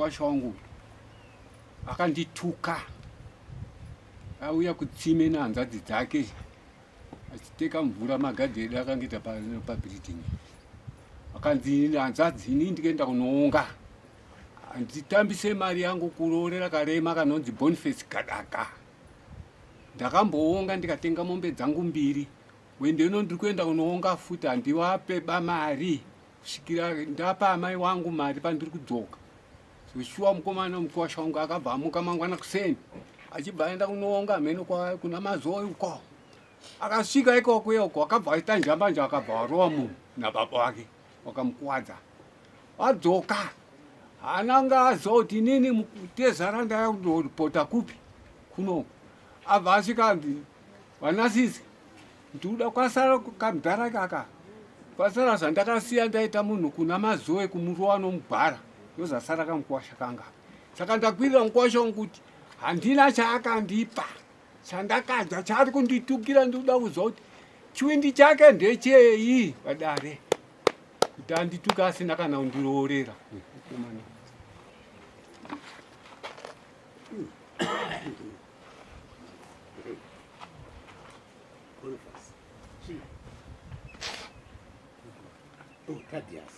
mkwasha wangu akandituka auya kutsime nehanzvadzi dzake achiteka mvura magadhi edu akangoita pabuilding akanzi hanzadzi ini ndikaenda kunoonga handitambise mari yangu kuroorera karema kanonzi boniface gadaka ndakamboonga ndikatenga mombe dzangu mbiri wendeno ndiri kuenda kunoonga futi handivape bamari kusvikira ndapa amai wangu mari pandiri kudzoka Shuwa mukomana mukosha wangu akabva amuka mangwana kuseni achibva aenda kunoonga mheno kuna mazoi uko akasvika ikoko yoko akabva aita njambanja akabva warova munhu nababa wake wakamukwadza adzoka ananga azoti nini tezara ndaya kundopota kupi kuno abva asvika vanasisi ndikuda kwasara kamdhara kaka kwasara zvandakasiya ndaita munhu kuna mazoe kumurowa nomubhara ndozasara kamukwasha kanga saka ndakwirira mukwasha wangu kuti handina chaakandipa chandakadya chaari kunditukira ndikuda kuziva kuti chiwindi chake ndechei padare kuti andituke asina kana kundiroorera Oh, Tadias.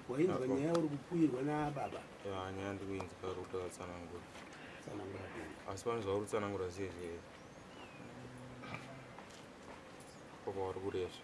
Wainzwa nyaya uri kupuirwa nababa? Ya, nyaya ndikuinzwa uri kutoda tsanangura. Tsanangura kuni? Asi pane zvauri kutsanangura ziye zviye. Papa wari kurezva.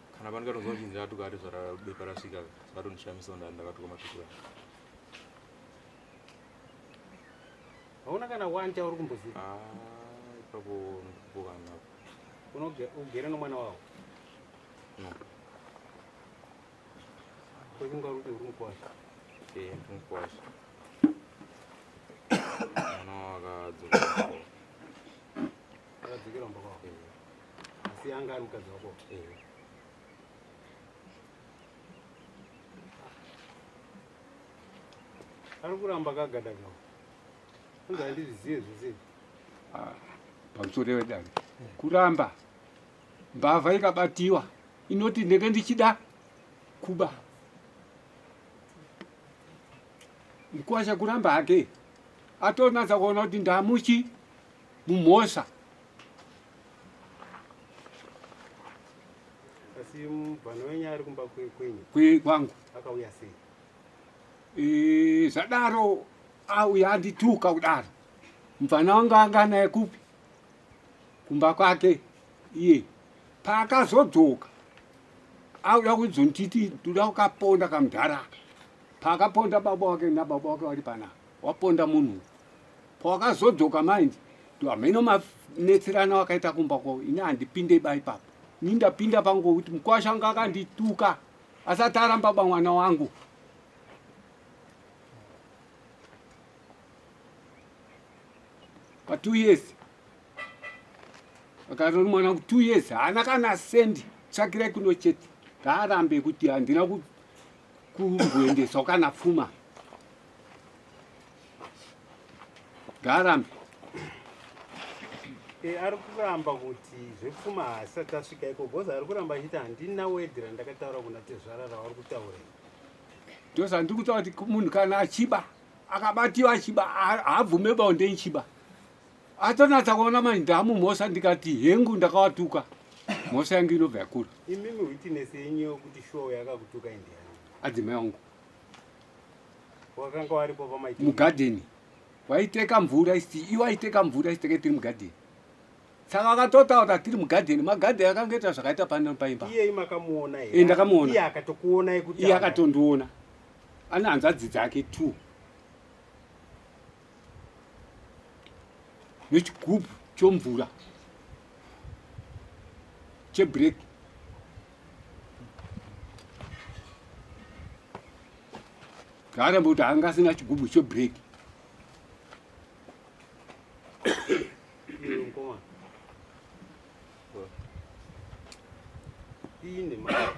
kana pano katonzwa chinzi ratuka ati zvara bepa rasvika zvakatondishamisa ndani ndakatuka matukura hauna kana one chauri kumboziva ah, ipapo ndikupokana unogere nomwana wavo no kwekunga uri kuti uri mukwasha ee eh, ndi mukwasha mwana wavo akadzokera akadzokera mba kwavo eh. asi anga ari mukadzi wako here ari kuramba kagada kao anzi handizvizive zvese Ah, pamusoro wedare kuramba mbavha ikabatiwa inoti ndenge ndichida kuba mkwasha kuramba hake atonatsa kuona kuti ndamuchi mumhosva kwangu e, zvadaro auya andituka kudaro mvana wangu anga naye kupi kumba kwake iye paakazodzoka auda kuzonditi ndoda kukaponda kamudharaka paakaponda baba wake nababa wake vari pana waponda munhu pawakazodzoka mind hameno manetserana wakaita kumba kwavo ini handipinde ba ipapo ini ndapinda pango kuti mukwasha anga akandituka asati aramba ba mwana wangu pa two years akatori mwana ku two years haana kana sendi tsvakirai kuno chete ngaarambe kuti handina kumboendeswa kana pfuma Garam. E, eh, ari kuramba kuti zvepfuma haasati asvika iko bhoza ari kuramba achiti handina wedhi randakataura kuna tezvara ravari kutaura ndosa ndiri kutaura kuti munhu kana achiba akabatiwa achiba haabvume bonde ichiba atonatsa kuona mani ndamumhosa ndikati hengu ndakawatuka mhosa yangu inobva yakura imimi witness yenyu yokuti show yakakutuka indiani adzimai wangu wakanga waripo pamaiti mugadheni waiteka mvura isi iwe aiteka mvura isiteke tiri mugadheni saka vakatotaura tiri mugadheni magadheni akanga ita zvakaita pano paimba iyei makamuona here ndakamuona iye akatokuona yekuti iye akatondiona ane hanzvadzi dzake two nechigubhu chomvura chebreki zvaaramba kuti anga asina chigubhu chebreki ine mari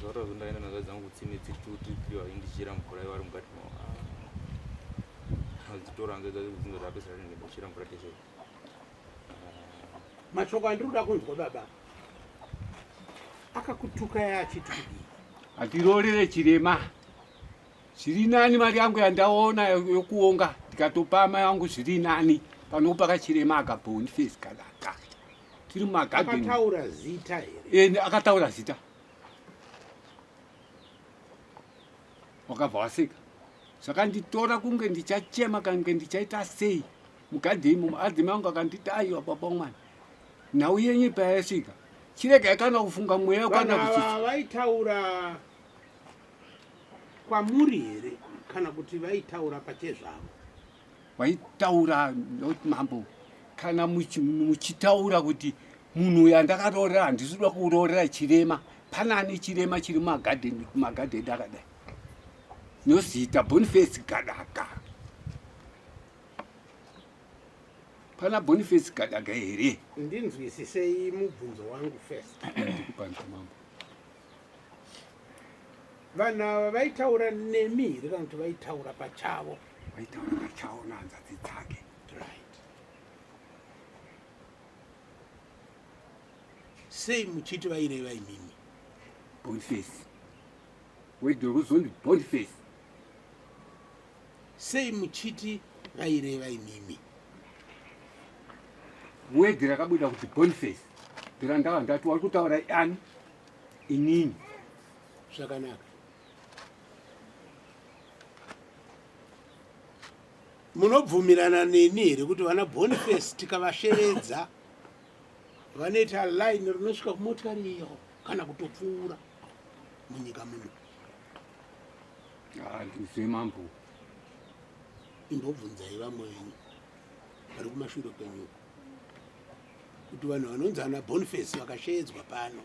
zvaro zvondaenda nazvo dzangu kutsime tsituti iyo aindichira mvura ivari mukati mao adzitoranga dzazi kudzinza zvapesera ringe ndichira mvura teshe mashoko andiri kuda kunzwa baba akakutuka yaachiti kudii handirorere chirema zviri nani mari yangu yandaona yokuonga ndikatopa ama yangu zviri nani panopa kachirema akabonifesi kanaka tiri mumagadeni akataura zita here Eh, akataura zita wakabva waseka zvakanditora kunge ndichachema kange ndichaita sei mugadheni mumo adzime angu akanditi aiwa baba mwana nhau yenyu payasvika chiregai kana kufunga mweya vanhu kwana ava kuchichi vaitaura kwamuri here kana kuti vaitaura pachezvavo vaitaura not mambo kana muchitaura kuti munhu uyu andakaroorera handisi kuda kuroorera chirema pane ane chirema chiri mumagadheni kumagadheni akadai nozita boniface gadaka pana boniface gadaka here ndinzwisisei mubvunzo wangu first vanhu ava vaitaura nemi here kana kuti vaitaura pachavo Waitaura vachaona hanzvadzi dzake. Right. Sei muchiti vaireva imimi? Boniface. Wedwa kuzondi Boniface. Sei muchiti vaireva imimi? Wedhi rakabuda kuti Boniface. Ndira ndava ndati wari kutaura ani inini. Zvakanaka. munobvumirana neni here kuti vana boniface tikavashevedza vanoita line rinosvika kumotikari iyo kana kutopfuura munyika muno handizve mambo imbobvunzai vamwe venyu vari kumashure kwenyuko kuti vanhu vanonzi ana boniface vakasheedzwa pano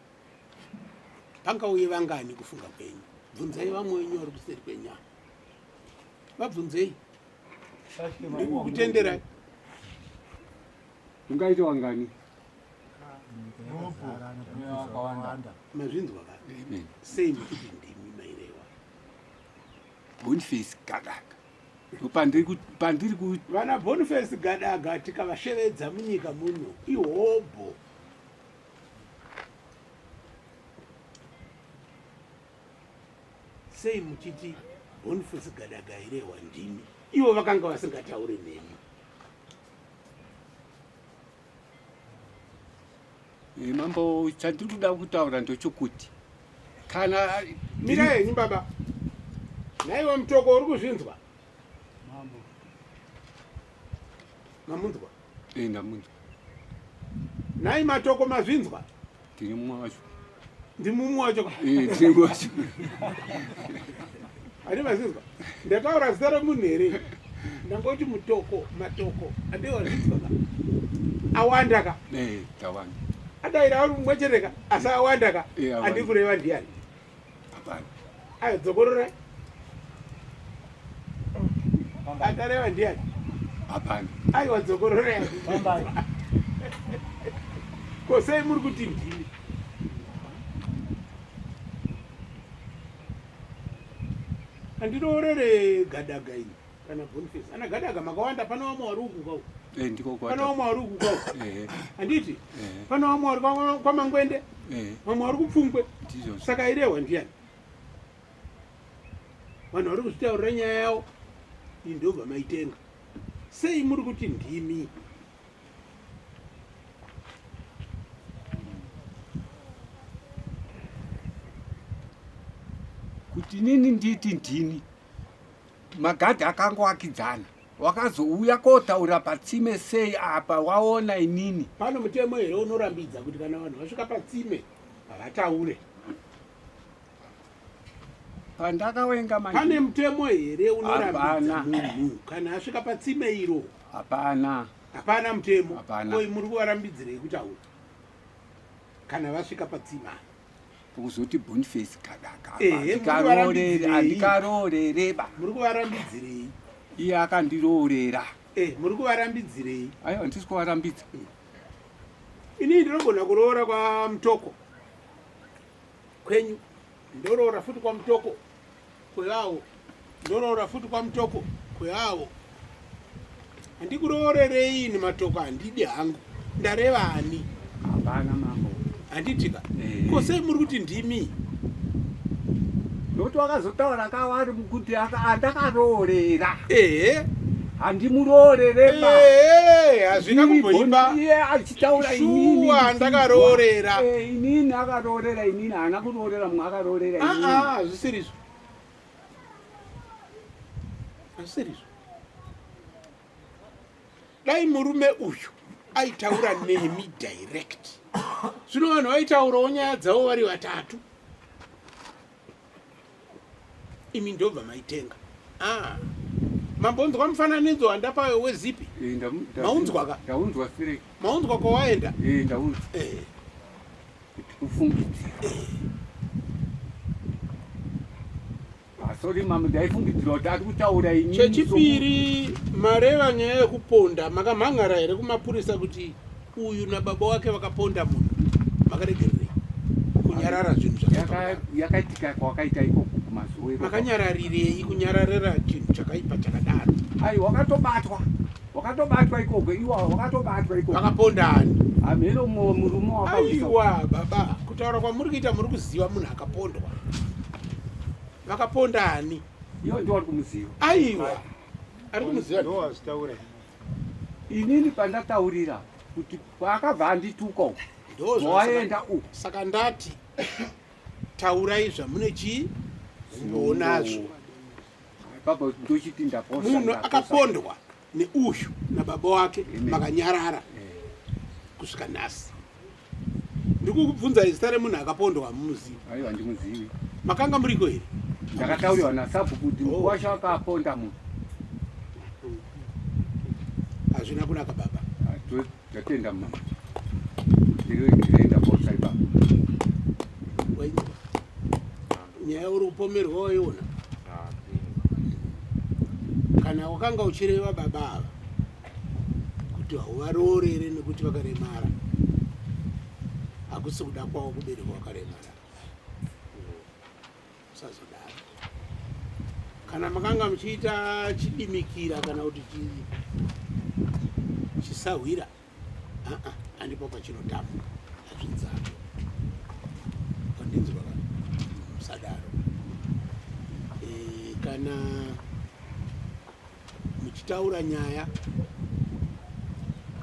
pangauye vangani kufunga kwenyu bvunzai vamwe wenyu vari kuseri kwenyama vabvunzei ndikukutenderai ungaita wangani mazvinzwa ka sei ndikuti ndimi mairewa bonface gadaka pandiri ku vana bonface gadaga tikavashevedza munyika muno ihobho sei muchiti boniface gadaga irehwa ndimi ivo vakanga vasingatauri nemi eh, mambo chandiri kuda kutaura ndochokuti kana mira henyu baba naiwe mutoko uri kuzvinzwa mamunzwa Eh ndamunzwa. Nai matoko mazvinzwa? Tiri mumwe wacho. Ndi mumwe wacho ka? Eh tiri mumwe wacho. Ani mazvinzwa? Ndakaura zita remunhu here? Ndangoti mutoko, matoko. Ande wazvinzwa ka? Awanda ka? Eh tawanda. Adaira ari mumwe chete ka? Asi awanda ka? Eh awanda. Andikureva ndiyani? Hapana. Ayo dzokororai. Akareva ndiani? Hapana. Ayo dzokororai. Pambai. Ko sei muri kuti ndini? Andinoorere gadaga ini. kana boniface ana gadaga makawanda pana vamwe vari uku kwau eh, ndiko pana vamwe vari uku kwau eh, eh. handiti pana vamwe vari kwamangwende vamwe vari kupfungwe saka irehwa ndiyani vanhu vari kuzvitaurira nyaya yavo iyi ndobva maitenga sei muri kuti ndimi kuti nini nditi ndini Magadhi akangoakidzana wakazouya kotaura patsime sei apa waona inini pano mutemo here unorambidza kuti kana vanhu vasvika patsime havataure pandakawenga manje pane mutemo here unorambidza munhu kana asvika patsime iro hapana hapana mutemo hapana koi muri kuvarambidzirei kutaura kana vasvika patsima kuzoti bonface kadakaandikaroorereba eh, muri kuvarambidzirei iye akandiroorera eh, muri kuvarambidzirei aiwa ndisi kuvarambidza eh. ini ndinogona kuroora kwamutoko kwenyu ndoroora futi kwamutoko kweawo ndoroora futi kwamutoko kweawo handikuroorerei ini matoko handidi hangu ndareva ani hapana mambo handitika eh. ko sei muri kuti ndimi nokuti wakazotaura kawari mukuti andakaroorera ehe handimuroorere hazvina kumboimba taura inini shuwa ndakaroorera Eh, inini akaroorera inini haana kuroorera mumwe akaroorera Ah, inini ah, hazvisirizvo hazvisirizvo dai murume uyu aitaura nemi direct zvino vanhu vaitaurawo nyaya dzavo vari vatatu imi ndobva maitenga ah. mambonzwa mufananidzo wandapayo wezipi maunzwaka maunzwa kwawaenda kufungidzira sorry mama ndaifungidzira kuti ari kutaura ini chechipiri mareva nyaya yekuponda makamhan'ara here kumapurisa kuti Uyu na baba wake vakaponda munhu makaregererei kunyarara zvinhu zvakaitika kwakaita ikoko kumazuwe makanyararirei kunyararira chinhu chakaipa chakadaro ai wakatobatwa wakatobatwa ikoko iwa wakatobatwa ikoko vakaponda ani hameno murume wakaiwa baba kutaura kwamuri kuita muri kuziva munhu akapondwa vakaponda ani iyo ndiwari kumuziva aiwa ari kumuziva inini pandataurira kuti kwaakabva andituka uku ndowaenda uku saka ndati taurai zvamune chii zvinonazvo baba ndochiti ndaposa munhu akapondwa neuyu nababa wake makanyarara eh. kusvika nhasi ndikukubvunza izita remunhu akapondwa hamuzivi aiwa ndimuzivi makanga muriko here ndakatauriwa nasabhuku kuti mukuru wacho akaponda munhu hazvina kunaka baba tatenda ah, mama ndinoenda posai baba nyaya uri kupomerwa waiona ah, kana wakanga uchireva baba ava kuti hauvaroore here nekuti vakaremara hakusi kuda kwavo kubereka wakaremara usazodaro kana makanga muchiita chidimikira kana kuti chisahwira andipo pachinotamba azvidzako pandinzwa musadaro e, kana muchitaura nyaya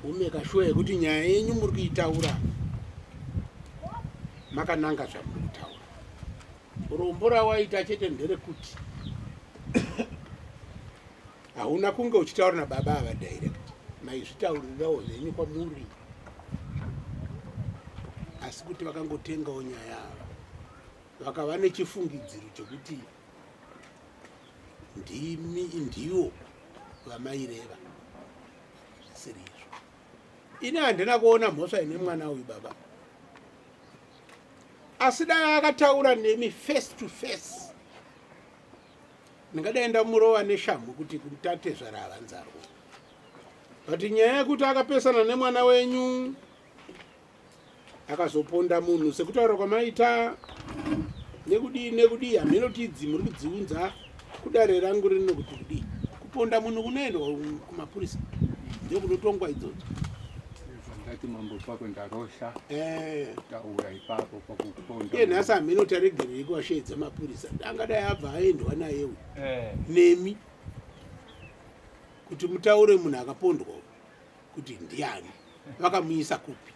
umeka shuwa yekuti nyaya yenyu muri kuitaura makananga zvamuri kutaura rombo rawaita chete nderekuti hauna kunge uchitaura nababa ava direct maizvitaurirawo zvenyu kwamuri asi kuti vakangotengawo nyaya ava vakava nechifungidziro chekuti ndimi ndiwo vamaireva siri izvo ini handina kuona mhosva ine mwana uyu baba asi dai akataura nemi face to face ndingadai ndamurova neshamhu kuti kutate zvaravanzarwa but nyaya yekuti akapesana nemwana wenyu akazoponda munhu sekutaura kwamaita nekudii nekudii hameno tidzi muri kudziunza kudare rangu rino kuti kudii kuponda munhu kunoendwa kumapurisa ndokunotongwa idzodzo ndati mambo pako ndarosha eh. taura ipapo pakuponda iye nhasi hameno taregerei kuwasheedza mapurisa angadai abva aendwa naye uyu eh. nemi kuti mutaure munhu akapondwa kuti ndiani vakamuisa kupi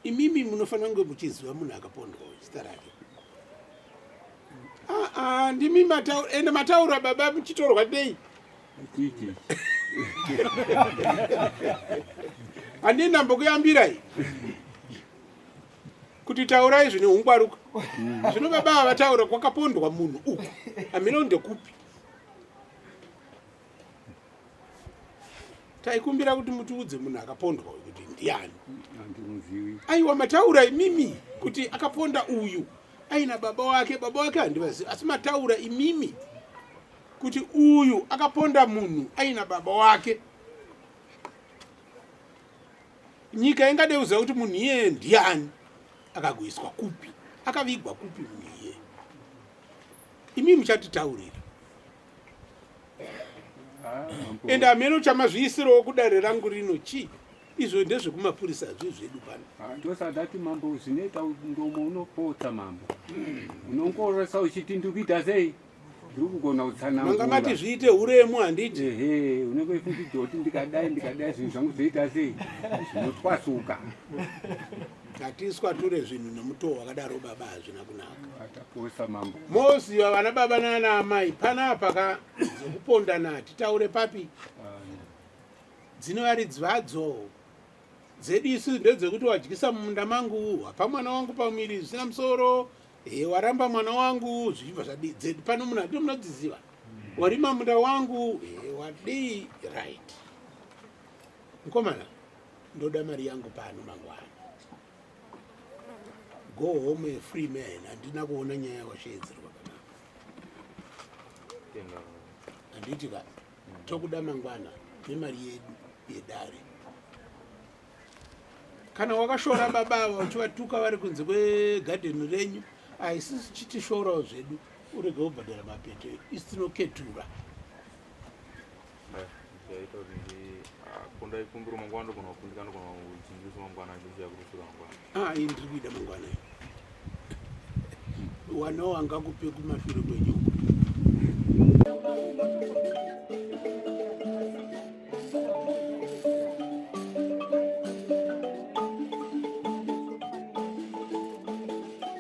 imimi munofanira kunge muchiziva munhu akapondwa zita rake ah, ah, ndimi mataura ende mataura baba muchitorwa dei handii ndambokuyambirai kuti taurai zvine ungwaruka zvino baba vataura kwakapondwa munhu uku hamino ndekupi taikumbira kuti mutiudze munhu akapondwa uyu kuti ndiani aiwa mataura imimi kuti akaponda uyu aina baba wake baba wake handivazivi asi mataura imimi kuti uyu akaponda munhu aina baba wake nyika ingadeuza kuti munhu iyeye ndiani akagoiswa kupi akavigwa kupi munhu iyeye imi muchatitaurira and hameno chamazviisirawo kudare rangu rino chii izvo ndezvekumapurisa zvi zvedu pano ah, ndosadati mambo zvinoita ndomo unopotsa mambo unongoresa uchiti ndikuita sei ndiri kugona kutsanamanga mati zviite uremu handiti ehe unenge uchifungidzoti ndikadai ndikadai zvinhu zvangu zvoita sei zvinotwasuka ngatiswature zvinhu nemutoo wakadaro baba hazvina kunaka mambo moziva vana baba nana amai panapa ka dzekupondana hatitaure papi dzine varidzi vadzo dzedu isu ndedzekuti wadyisa mumunda mangu hapa mwana wangu pamuviri zvisina musoro e waramba mwana wangu zvichibva zvadii dzedu pano munhu hatino munodziziva warima munda wangu e wadii right mukomana ndoda mari yangu pano mangwana go home a free man handina kuona nyaya yawasheedzerwa kanaka handiti ka tokuda mangwana nemari yedu yedare kana wakashora baba ava uchivatuka vari kunze kwegadheni renyu haisisi chitishorawo zvedu urege kubhadhara mapeto isitinoketura zvaita kuti kunda ikumbiro mangwana ndogona kufundika ndogona kuchinjisa mangwana achinzi yakurusura mangwana ah iyi ndiri kuida mangwana iyo wanawo angakupe kumashure kwenyu